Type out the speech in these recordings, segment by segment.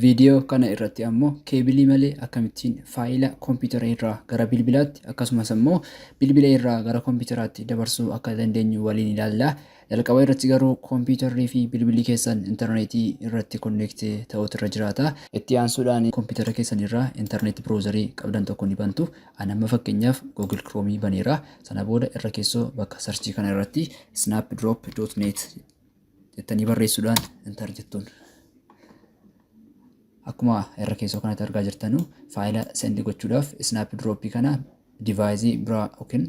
Viidiyoo kana irratti ammoo keebilii malee akkamittiin faayila kompiitara irraa gara bilbilaatti akkasumas ammoo bilbila irraa gara kompiitaraatti dabarsuu akka dandeenyu waliin ilaalla. Jalqaba irratti garuu kompiitarrii fi bilbilli keessan intarneetii irratti konneekti ta'uutu irra jiraata. Itti aansuudhaan kompiitara keessan irraa intarneetii biroozarii qabdan tokko ni bantu. Ani amma fakkeenyaaf Google Chrome baneera. Sana booda irra keessoo bakka sarchii kana irratti snapdrop.net jettanii barreessuudhaan enter jettuun. Akkuma irra keessoo kanatti argaa jirtanu faayila sendi gochuudhaaf snaap dirooppii kana divaayizii biraa yookiin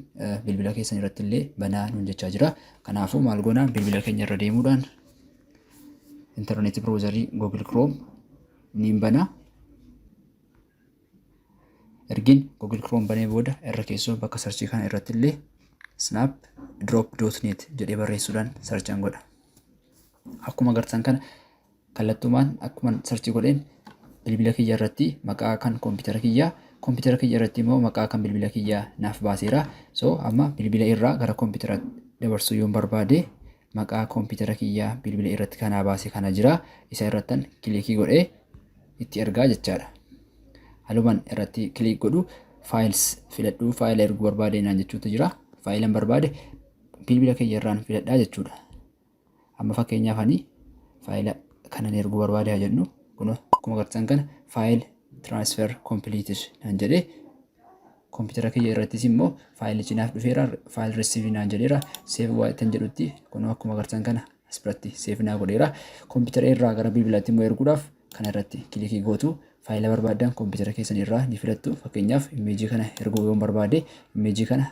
bilbila keessan irratti illee banaa nuun jechaa jira. Kanaafuu maal goona bilbila keenya irra deemuudhaan intarneetii biroozarii Google Chrome niin bana. ergin google chrome banee booda irra keessoo bakka sarchii kana irratti illee snap drop dot net jedhee barreessuudhaan sarchan godha akkuma agartan kana kallattumaan akkuma sarchii godheen bilbila kiyya irratti maqaa kan koompitara kiyyaa koompitara kiyya irratti immoo maqaa kan bilbila kiyyaa naaf baaseera so amma bilbila irraa gara koompitara dabarsuu yoon barbaade maqaa kompitara kiyyaa bilbila irratti kanaa baase kana jira isa irrattan kilikii godhe itti ergaa jechaadha haluman irratti kilik godhu faayils filadhuu faayila erguu barbaade naan jechuutu jira faayilan barbaade bilbila kiyya irraan filadhaa jechuudha amma fakkeenyaaf ani faayila kanan erguu barbaade haa jennu kun akkuma agartan kana faayil transfer completed naan jedhe Kompiitara kiyya irrattis immoo faayilichi naaf dhufeera. Faayil risiivii naan jedheera. Seef waayittan jedhutti kunoo akkuma agartan kana as biratti seef naa godheera. Kompiitara irraa gara bilbilaatti immoo erguudhaaf kana irratti kilikii gootu faayila barbaadan kompiitara keessan irraa ni filattu. Fakkeenyaaf imeejii kana erguu yoon barbaade imeejii kana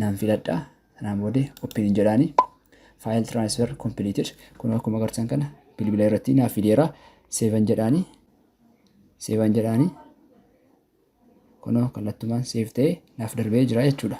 naan filadha sanaan booda open hin jedhaani file transfer completed kun akkuma agartan kana bilbila irratti naaf fideera seevan jedhaani seevan jedhaani kunoo kallattumaan seef ta'e naaf darbee jira jechuudha.